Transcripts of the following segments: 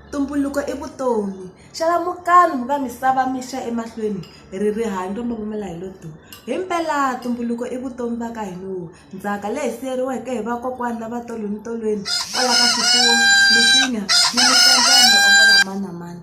Ntumbuluko i vutomi. Xalamukani mi va misava mi xa emahlweni hi ri rihanyo ro mila hi lo duu. Hi mpela ntumbuluko i vutomi va ka hina. Ndzhaka leyi siyeriweke hi vakokwana na va tolo ni tolweni kwala ka swifuwo, misinya ni mani na mani.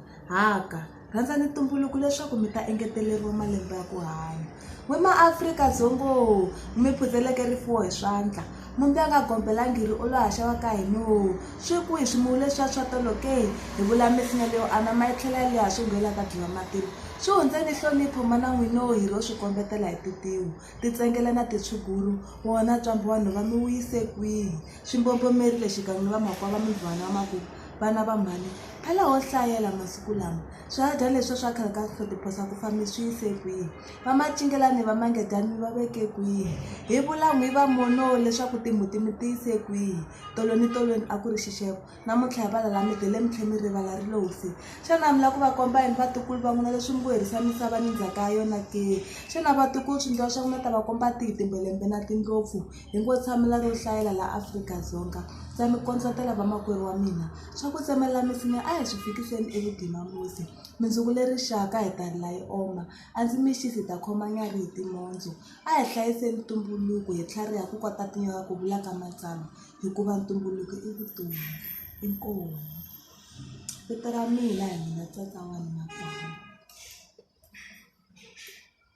Rhandzani ntumbuluko leswaku mi ta engeteleriwa malembe ya ku hanya. We maAfrika Dzongoo, mi phutheleke rifuwo hi swandla, mumbi a nga gombela ngiri u lo haxa wa ka hinoo! Swi kwihi swimuwu leswiya swa tolo ke? Hi vula misinya leyo anama yi tlhela yi leha swingo yi la ta dyiwa matilo. Swi hundzeni nhlonipho mana n'winoo hi lo swi kombetela hi tintiho, tintsengele na tintshuguru, wona ntshwambo wa nhova mi wu yise kwihi? Swi mbobomerile xikan'we ni vamakwavo va mivhwana va maku, Vana va mhani, phela ho hlayela masiku lama. Swihadyani leswi swa khale ka swi hlotiphosa ku fa mi swi yise kwihi? Vamacingela ni vamangedyani mi va veke kwihi? Hi vula n'wi va monoo leswaku timbuti mi ti yise kwihi? Tolweni tolweni a ku ri xixevo. namuntlha hi valala mi tele mi tlhela mi rivala ri lo fi xana mi lava ku va komba yini vatukulu va n'wina leswi mi ku herisa misava ni ndzhaka ya yona ke xana vatukulu swi ndliwa swa ku na ta va komba tihi timbelembe na tindlopfu hi ngo tshamela ro hlayela laha afrika-dzonga ndza mi kondletela vamakwerhu wa mina swa ku tsemelela misinya a hi swi fikiseni evugimamusi mindzuku le rixaka hi ta ri la yi oma a ndzi mi xisi hi ta khoma nyarhi hi timondzu a hi hlayiseni ntumbuluko hi tlhariha ku kota tinyoka ku vula ka matsama hikuva ntumbuluko i vutomi inkomu vito ra mina hi mina tata wa yena kwani.